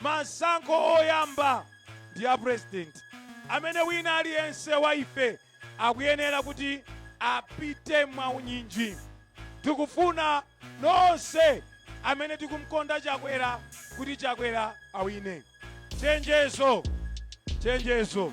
Masankho oyamba ndi ya president amene wina aliyense wa ife akuyenera kuti apite mwaunyinji. Tikufuna nonse amene tikumkonda Chakwera kuti Chakwera awine. Chenjezo! Chenjezo!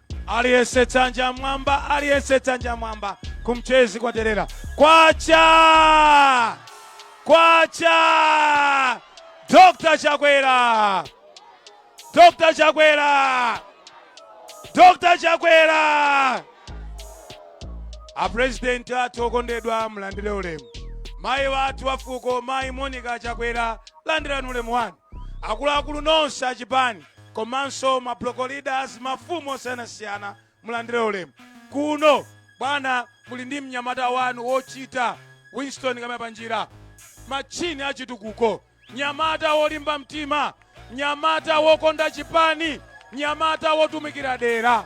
Aliyense dzanja mwamba, aliyense dzanja mwamba. Ku Mchezi kwaterera kwacha kwacha. Dr. Chakwera, Dr. Chakwera, Dr. Chakwera. A president athu okondedwa mlandire ulemu. Mayi wathu wafuko, mayi Monica Chakwera, landirani ulemu wanu. Akuluakulu nonse a chipani komanso ma block leaders, mafumu osiyanasiyana mulandire ulemu kuno. Bwana muli ndi mnyamata wanu wochita, Winston Kaimapanjira, matchini a chitukuko, mnyamata wolimba mtima, mnyamata wokonda chipani, mnyamata wotumikira dera.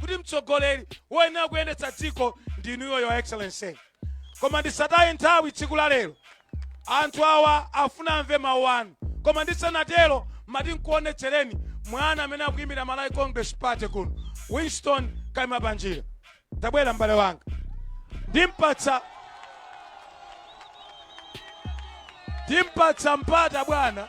kuti mtsogoleri woyenera kuyendetsa dziko ndi inuyo your excellency koma ndisataye nthawi tsiku la lero anthu awa afuna amve mawu anu koma ndisanatero mati nkuonetsereni mwana amene akuyimira malawi congress party kuno winston kaimapanjira tabwera m'bale wanga ndimpatsa mpata bwana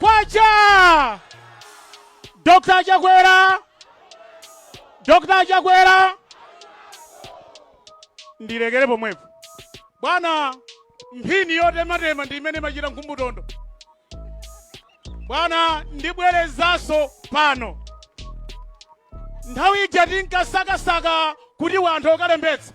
Kwacha! Dr. Chakwera! Dr. Chakwera! Ndilekere pomwepo. Bwana, mphini yotematema ndi imene imachita nkhumbutondo. Bwana, ndibwerezanso pano. Nthawi ija tinkasakasaka kuti wanthu akalembetse.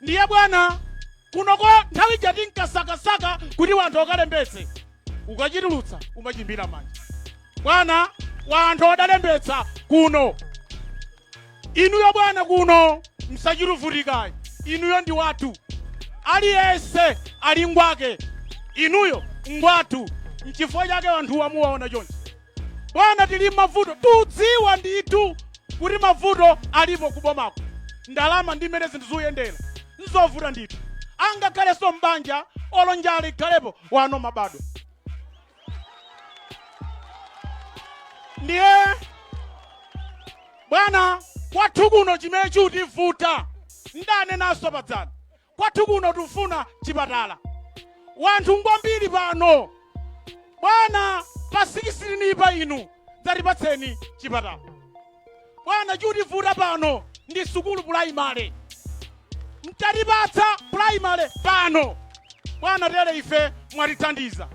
Ndiye bwana, kunoko nthawi ija tinkasakasaka kuti wanthu akalembetse, ukachitulutsa umachimbira manja. Bwana, wanthu adalembetsa kuno, inuyo bwana kuno msachiruvutikayi, inuyo ndi wathu, aliyense ali ngwake, inuyo ngwathu. Nchifukwa chake wanthuwa muwaona chonchi. Bwana tili mmavuto tudziwa ndithu kuti mavuto alipo kubomako ndalama ndi mmene zinthu zuyendera nzovuta ndithu angakhalenso mbanja olo njala ikhalepo wana amabadwa ndiye bwana kwathu kuno chimene chutivuta ndanenanso padzana Kwathu kuno tufuna chipatala. Wanthu ngwambiri pano. Bwana pa sikisitinipa inu dzatipatseni chipatala. Bwana chutivuta pano ndi sukulu pulayimale. Mtatipatsa pulayimale pano. Bwana tere ife mwatithandiza.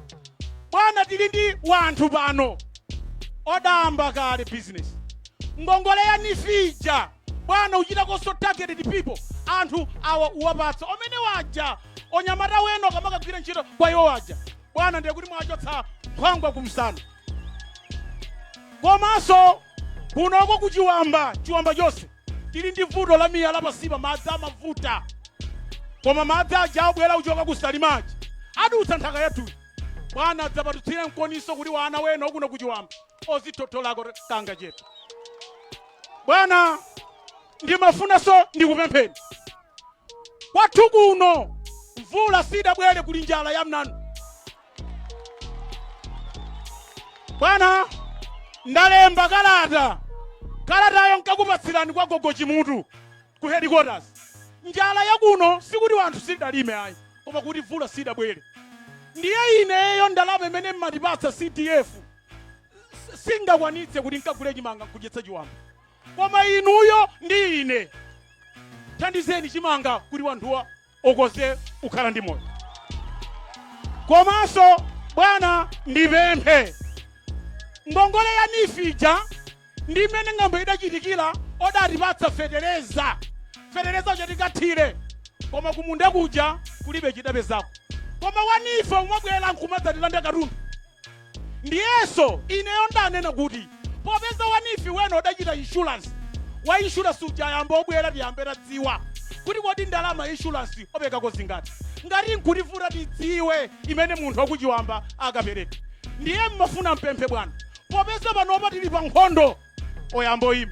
Bwana tili ndi wanthu pano odamba kale bizinesi. Ngongole ya NEEF ija bwana uchita konso targeted people anthu awa uwapatsa omene waja onyamata weno kamakagwira ntchito kwa iwo waja bwana ndiye kuti mwachotsa nkhwangwa kumsana komanso kunoko kuchiwamba chiwamba chonse tili ndi vuto la miyala pansipa madzi amavuta koma madzi aja abwera kuchoka ku salima aja adutsa nthaka yathuyi bwana adzapatutsire mkoniso kuti wana weno akuno kuchiwamba ozitotolako kangachepe bwana ndimafunanso ndikupempheni kwathu kuno mvula sidabwere kuli njala ya mnanu bwana ndalemba kalata kalatayo nkakupatsirani kwa gogo chimutu ku headquarters njala ya kuno sikuti wanthu sidalime ayi koma kuti mvula sidabwere ndiye ineyo ndalama imene mmatipatsa cdf singakwanitse kuti nkagule chimanga nkudyetsa chiwamba koma inuyo ndi ine thandizeni chimanga kuti wanthuwa okoze ukhala ndi moyo komanso bwana ndipemphe ngongole ya NEEF ija ndi imene ng'amba idachitikira odatipatsa fetereza fetereza uja tikathire koma kumunda kuja kulibe chidapezako koma wa NEEF omabwera nkumadzatilanda katundu ndiyenso ineyo ndanena kuti popeza wa NEEF weno odachita inshuransi wa inshuransi uja yamba obwera tiyambe kadziwa kuti kodi ndalama inshuransi opekako zingati ngati nkutivuta tidziwe imene munthu wakuchiwamba akapereka ndiye mmafuna mpemphe bwana popeza panopa tili pa nkhondo oyamba oyima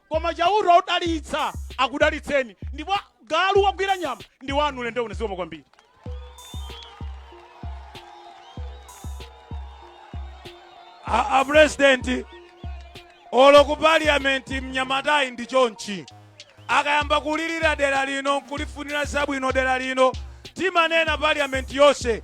koma chauta odalitsa akudalitseni ndipo galu wagwira nyama ndi wanu ulendo uno zikomo kwambiri a, a president olo ku parliament mnyamatayi ndi chonchi akayamba kulirira dera lino nkulifunira zabwino dera lino timanena parliament yonse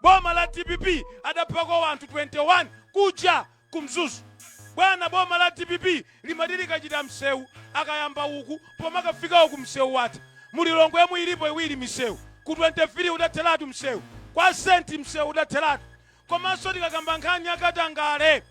Boma la dpp adaphako wanthu 21 kuja ku mzuzu bwana boma la dpp limati likachita msewu akayamba uku pomakafika uku msewu watha mu lilongwemu ilipo iwiri misewu ku 23 udatheratu msewu kwa senti msewu udatheratu komanso tikakamba nkhani ya katangale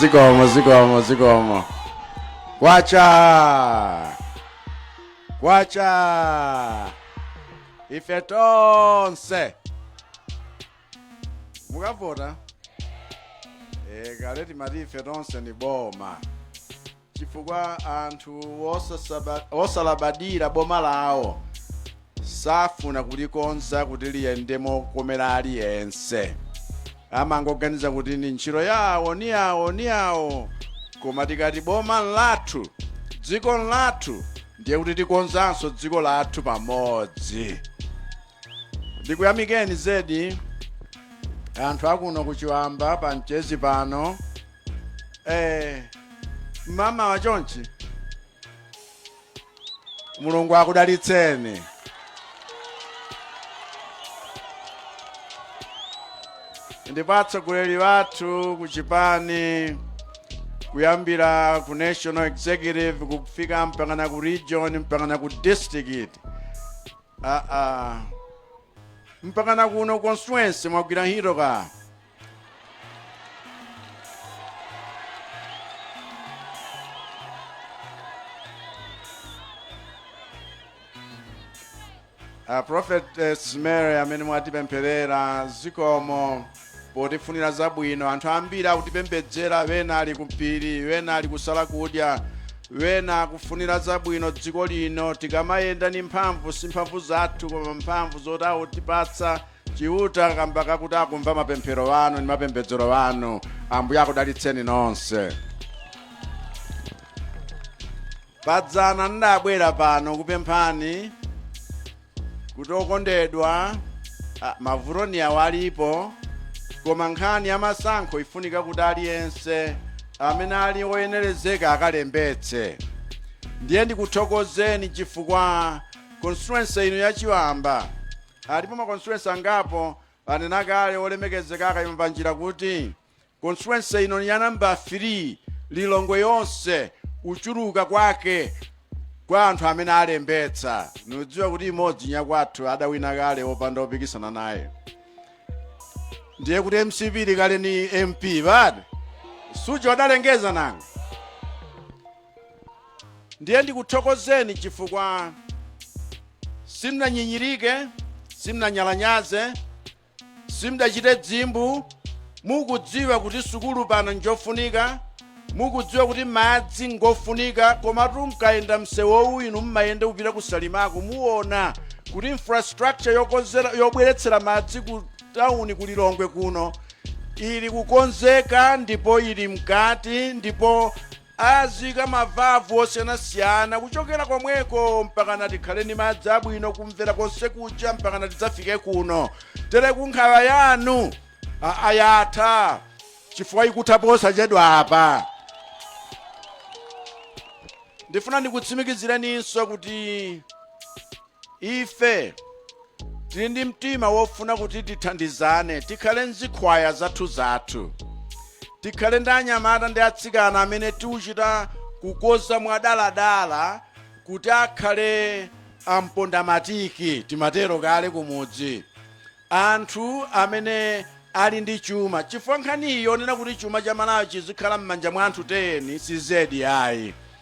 zikomo zikomo zikomo kwacha kwacha ife tonse mukavota e, kale timati ife tonse ni boma chifukwa anthu wosasaba- wosalabadira boma lawo safuna kulikonza kuti liyende mokomera aliyense amangoganiza kuti ni ntchito yawo ni yawo ni yawo koma tikati boma lathu dziko lathu ndiye kuti tikonzanso dziko lathu pamodzi ndikuyamikeni zedi anthu akuno kuchiwamba pa mchezi pano eh, mama wa chonchi mulungu akudalitseni ndipo atsogoleri wathu ku chipani kuyambira ku national executive kufika mpakana ku region mpakana ku district ah, ah. mpakana kuno ku constituency mwagwira ntchito ka a prophetess mary amene mwatipempherera zikomo potifunira zabwino anthu ambiri akutipembedzera wena ali kuphiri wena ali kusala kudya wena akufunira zabwino dziko lino tikamayenda ni mphamvu si mphamvu zathu koma mphamvu zoti akutipatsa chiuta kamba kakuti akumva mapemphero anu ndi mapembedzero anu ambuye akudalitseni nonse padzana nidabwera pano kupemphani kuti okondedwa ah, mavuto ni awo alipo koma nkhani ya masankho ifunika kuti aliyense amene ali oyenerezeka akalembetse ndiye ndikuthokozeni chifukwa constituency ino yachiwamba Alipo ma constituency angapo anena kale wolemekezeka a Kaimapanjira kuti constituency ino ni ya namba 3 Lilongwe yonse kuchuluka kwake kwa anthu amene alembetsa nikudziwa kuti imodzi nyakwathu adawina kale opanda opikisana naye ndiye kuti mcp ili kale ni mp basi suja adalengeza nanga Ndiye ndikuthokozeni chifukwa simnanyinyirike, simnanyalanyaze, simdachite dzimbu, mukudziwa kuti sukulu pano njofunika, mukudziwa kuti madzi ngofunika, komatu mkayenda msewowu inu mumayenda kupita ku Salimako muona kuti infrastructure yokonzera yobweretsera madzi ku tauni ku Lilongwe kuno ili kukonzeka ndipo ili mkati ndipo Azika mavavu osiyanasiyana kuchokera komweko mpakana tikhale ni madzi abwino kumvera konse kuja mpakana tidzafike kuno tere nkhawa yanu aa yatha chifukwa ikutha posachedwa apa ndifuna ndikutsimikizireninso kuti Ife tili ndi mtima wofuna kuti tithandizane, tikhale n'zikhwaya zathuzathu. Tikhale ndi anyamata ndi atsikana amene tikuchita kukonza mwadaladala kuti akhale ampondamatiki, timatero kale kumudzi. Anthu amene ali ndi chuma, chifukwa nkhani iyi yonena kuti chuma cha Malawi chizikhala m'manja mwa anthu teyeni si zedi ayi.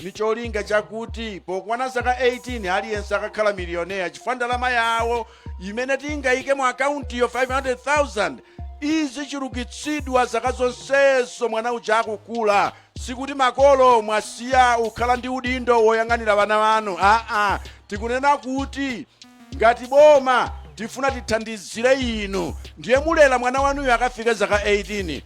ni cholinga chakuti pokwana zaka 18 aliyense akakhala miliyonea chifukwa ndalama yawo imene tingayike mu akauntiyo 500,000 izichulukitsidwa zaka zonsezo mwana uja akukula sikuti makolo mwasiya kukhala ndi udindo woyang'anira wana wanu aa tikunena kuti ngati boma tifuna tithandizire inu ndiye mulera mwana wanuyo akafike zaka 18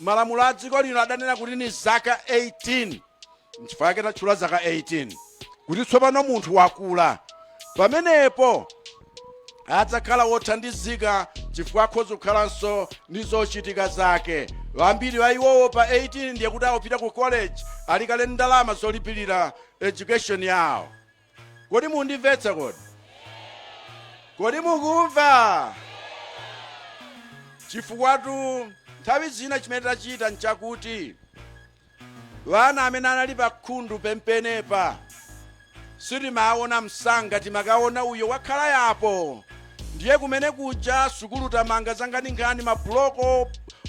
Malamulo a dziko lino adanena kuti ni zaka 18, nchifukwa yake tatchula zaka 18 kuti tsopano munthu wakula. Pamenepo adzakhala wothandizika chifukwa akhoza kukhalanso ndi zochitika zake. Wambiri wa iwowo pa 18 ndiye kuti akupita ku college ali kale ndi ndalama zolipirira education yawo. Kodi mundimvetsa kodi? Kodi mukumva? Chifukwatu nthawi zina chimene tachita nchakuti wana amene anali pakhundu pompanopa sitimawaona msanga timakaona uyo wakhala yapo Ndiye kumene kuja sukulu tamanga zankhaninkhani ma block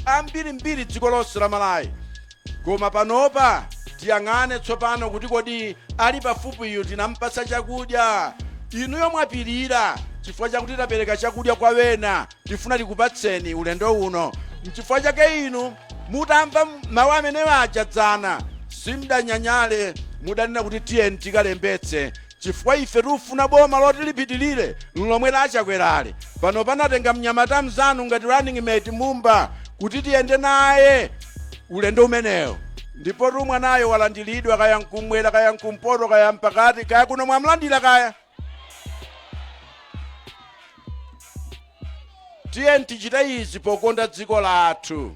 ambirimbiri dziko lonse la Malawi. Koma panopa tiyang'ane tsopano kuti kodi ali pafupiyu tinampatsa chakudya. Inuyo mwapirira chifukwa chakuti tapereka chakudya kwa wena tifuna tikupatseni ulendo uno. Nchifukwa chake inu mutamva mawu amene waja dzana simdanyanyale mudanena kuti tiyeni tikalembetse chifukwa ife tufuna boma loti lipitirire lomwe la chakwerali pano panatenga mnyamata mzanu ngati running mate mumba kuti tiyende naye ulendo umenewo ndipotu mwanayo walandilidwa kaya nkumwera kaya nkumpoto kaya mpakati kaya kuno mwamlandira kaya tiyeni tichita izi pokonda dziko lathu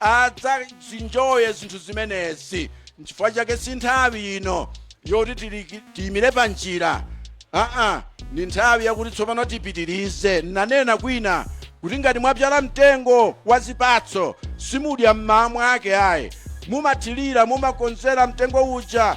adzazinjoye zinthu zimenezi nchifukwa chake si nthawi ino yoti tiyimire pa njira aa ndi nthawi yakuti tsopano tipitirize nanena kwina kuti ngati mwabyala mtengo wa zipatso simudya m'mawa mwake ayi mumathirira mumakonzera mtengo uja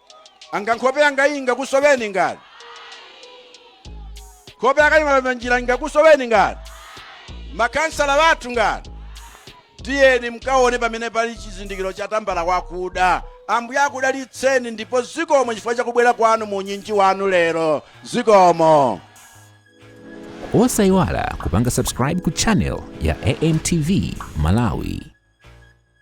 anga nkhope yanga iyi ingakusoweni ngati nkhope ya kaima panjira ingakusoweni ngati makhansala athu ngati tiyeni mkaone pamene pali chizindikiro cha tambala wakuda ambuye akudalitseni ndipo zikomo chifukwa chakubwera kwanu mu unyinji wanu lero zikomo osayiwala kupanga subscribe ku channel ya amtv malawi